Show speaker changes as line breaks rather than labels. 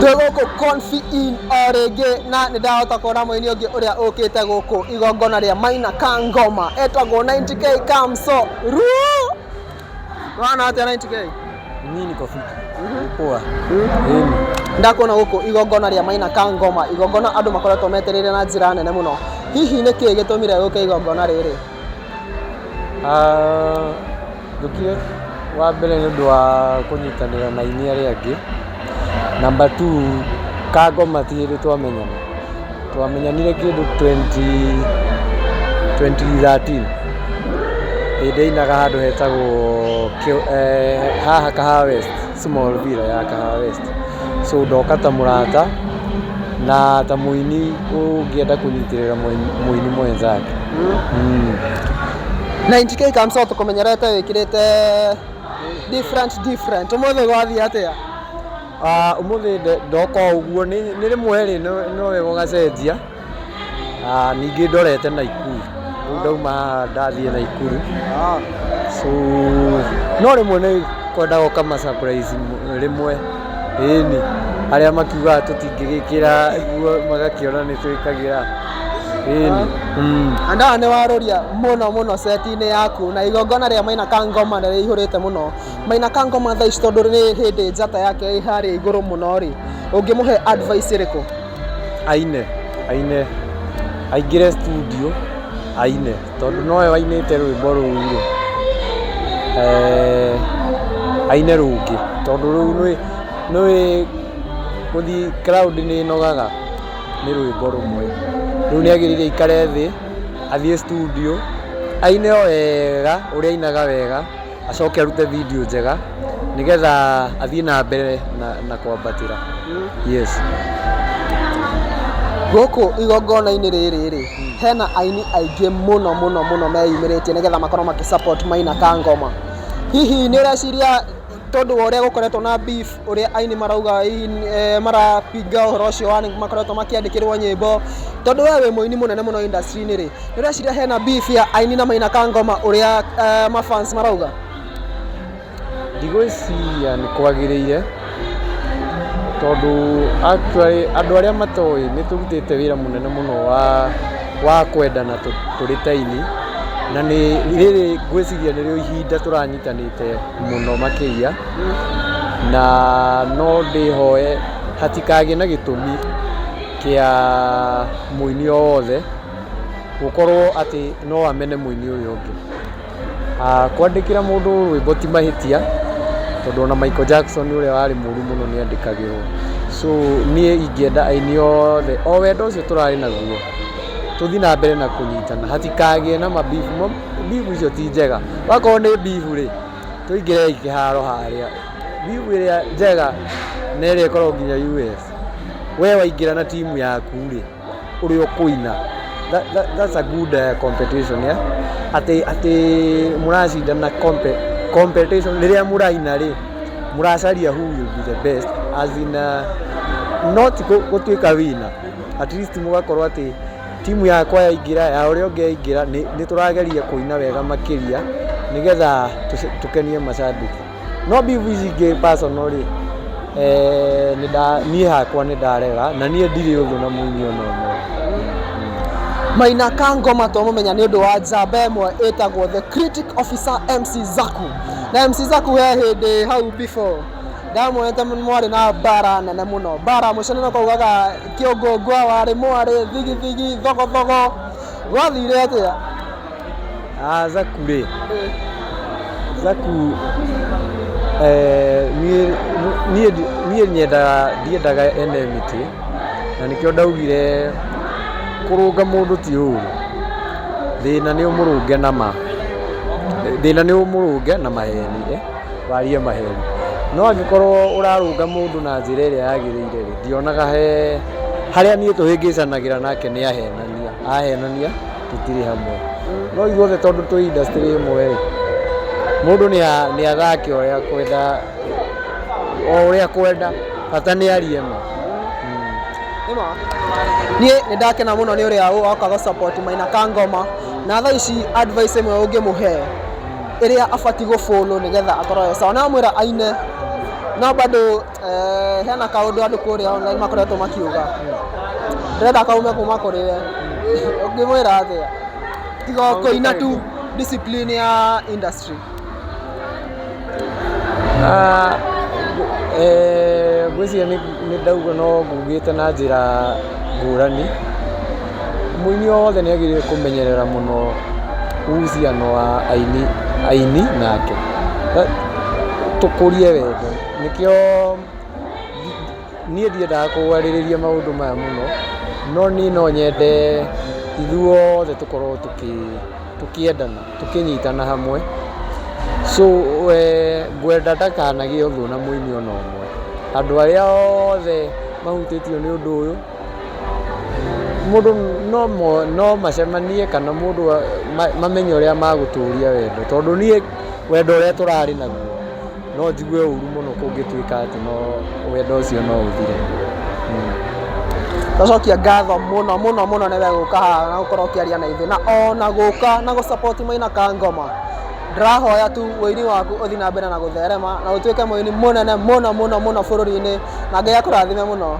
twĩgũkũ konfi in o rĩngĩ na nĩ ndahota kuona mũini ũngĩ ũrĩa ũkĩte gũkũ igongona rĩa maina ka ngoma etagwo 90k kamso ruo wana atĩa 90k Mimi niko fiti.
Poa. Yeni.
ndakuona gũkũ igongona rĩa maina ka ngoma igongona andũ makoretwo metereire na njĩra nene mũno hihi nĩ kĩĩ gĩtũmire gũke igongona rĩrĩ
Njũkire wa mbere nĩ ũndũ wa kũnyitanĩra na aini arĩa angĩ. Namba two kangoma ti hĩndĩ twamenyana. Twamenyanire kĩndũ twenty twenty thirteen hĩndĩ ainaga handũ hetagwo haha Kahawa West. Small Villa ya Kahawa West. So ndoka ta mũrata na ta mũini ũngĩenda kũnyitĩrĩra mũini mwenzake. Mm.
Na NGK Kamso tũkũmenyerete wĩkĩrĩte different different. Ũmũthĩ gwathiĩ atĩa? Ah,
ũmũthĩ ndoka ũguo nĩ rĩmwe rĩ no wega ũgacenjia. ningĩ ndorete Naikuru, rĩu ndauma haha ndathiĩ Naikuru, so no rĩmwe nĩ kwendaga ũka ma surprise rĩmwe, ĩni, arĩa makiugaga tũtingĩgĩkĩra nguo magakĩona nĩ twĩkagĩra, ĩni.
Handũ haha nĩ waroria mũno mũno seti-inĩ yaku, na igongona rĩa Maina ka Ngoma nĩ rĩihũrĩte mũno. Maina ka Ngoma thaa ici tondũ nĩ hĩndĩ njata yake ĩ harĩa igũrũ mũno rĩ, ũngĩmũhe advice ĩrĩkũ? aine,
aine, aingĩre studio aine tondũ nowe wainĩte rwĩmbo rũu rĩ, aine rũngĩ tondũ rũu nĩ nĩũĩ gũthiĩ crowd nĩ ĩnogaga nĩ rwĩmbo rũmwe. Rĩu nĩ agĩrĩire aikare thĩ athiĩ studio aine o wega ũrĩa ainaga wega. acoke arute video njega nĩgetha athiĩ na mbere na, na kwambatĩra yes
gũkũ igongona-inĩ rĩrĩ rĩ hena aini aingĩ mũno mũno mũno meyumĩrĩtie nĩgetha makorwo makĩ support maina ka ngoma hihi nĩ ũreciria tondũ wa ũrĩa gũkoretwo na beef ũrĩa aini marauga eh, marapinga ũhoro ũcio wa makoretwo makĩandĩkĩrwo nyĩmbo tondũ we wĩ mũini mũnene mũno industry-inĩ rĩ nĩ ũreciria hena beef ya aini na maina ka ngoma ũrĩa eh, mafans marauga
ndigwĩciria nĩ kwagĩrĩire tondũ actually andũ arĩa matoĩ nĩ tũrutĩte wĩra mũnene mũno wa wa kwendana tũ- tũrĩ ta ini na nĩ rĩrĩ ngwĩciria nĩrĩo ihinda tũranyitanĩte mũno makĩria Ngai waku, na no ndĩhoe hatikagĩe na gĩtũmi kĩa mũini o wothe gũkorwo atĩ no amene mũini ũyũ ũngĩ. Kwandĩkĩra mũndũ rwĩmbo ti mahĩtia tondũ ona Michael Jackson ũrĩa warĩ mũru mũno nĩ andĩkagĩrwo. So niĩ ingĩenda aini othe o wendo ũcio tũrarĩ naguo tũthiĩ na mbere na kũnyitana hatikagĩe na ma beef, beef icio ti njega. Wakorwo nĩ beef rĩ... Tũingĩrei kĩharo harĩa. View ĩrĩa njega nĩ ĩrĩa ĩkoragwo nginya US. We waingĩra na timu yaku rĩ, ũrĩa ũkũina. That's a good uh, competition yeah? Atĩ atĩ mũracindana compe, competition rĩrĩa mũraina rĩ, mũracaria who will be the best as in uh, not gũtuĩka wina at least mũgakorwo atĩ Timu yakwa yaingĩra, ya ũrĩa ũngĩ yaingĩra, nĩ tũrageria kũina wega makĩria nĩgetha tũkenie macambĩki. No beef ici ingĩ personal rĩ, niĩ hakwa nĩ ndarega na niĩ ndirĩ ũthũ na mũini ona ũmwe.
Maina ka ngoma twamũmenya nĩ ũndũ wa njamba ĩmwe ĩtagwo the critic officer MC Zaku. Na MC Zaku he hĩndĩ hau before ndamuonete mwarĩ na mbara nene mũno, mbara mũico nĩ na ũkaugaga... Kĩongo ngwa warĩ mwarĩ thigithigi thogothogo gwathire atĩa? Ah,
Zaku rĩ, Zaku eh, niĩ- niĩ niĩ nyendaga ndiendaga enemity na nĩkĩo ndaugire kũrũnga mũndũ ti ũru thĩna nĩ ũmũrũnge na ma thĩna nĩ ũmũrũnge na maheni eh. warie maheeni. No angĩkorwo ũrarũnga mũndũ na njĩra ĩrĩa yagĩrĩire-rĩ, ndionaga he harĩa niĩ tũhĩngĩcanagĩra nake nĩ ahenania. Ahenania tũtirĩ hamwe. No ithuothe tondũ twĩ industry ĩmwe-rĩ, mũndũ nĩ athake ũrĩa akwenda, o ũrĩa akwenda, bata nĩ arie ma. Nĩ ma.
Niĩ nĩ ndakena mũno nĩ ũrĩa woka gũ support Maina Kangoma. Na thaa ici advice ĩmwe ũngĩmũhe? ĩrĩa abatiĩ gũ follow nĩgetha akorwo e sawa. Nĩ wamwĩra aine no bado eh, hena kaũndũ andũ kũrĩa online makoretwo makiuga ndĩrenda kaume kuma kũrĩ we ũngĩmwĩra atĩa tiga o kũina tu discipline ya industry
Ah, eh, ngwĩciria nĩ nĩ ndauga no ngugĩte na njĩra ngũrani Mũini wothe nĩ agĩrĩirwo kũmenyerera mũno uhusiano wa aini, aini nake. Tũkũrie wendo. Nĩkĩo niĩ ndiendaga kwarĩrĩria maũndũ maya mũno, no niĩ no nyende ithuothe tũkorwo tũkĩendana, tũkĩnyitana hamwe. So ngwenda ndakanagĩe ũthũ na mũini ona ũmwe. Andũ arĩa othe mahutĩtio nĩ ũndũ ũyũ. Mũndũ no macemanie kana mũndũ mamenye ũrĩa magũtũria wendo tondũ niĩ wendo ũrĩa tũrarĩ naguo no njigue ũru mũno kũngĩtuĩka atĩ wendo ũcio no ũthire.
Ngacokia ngatho mũno mũno mũno nĩ wee gũka haha na gũkorwo ũkĩaria na ithuĩ na ona gũka na gũ support Maina ka Ngoma. Ndĩrahoya tu ũini waku ũthiĩ na mbere na gũtherema na ũtuĩke mũini mũnene mũno mũno bũrũri-inĩ na Ngai akũrathime mũno.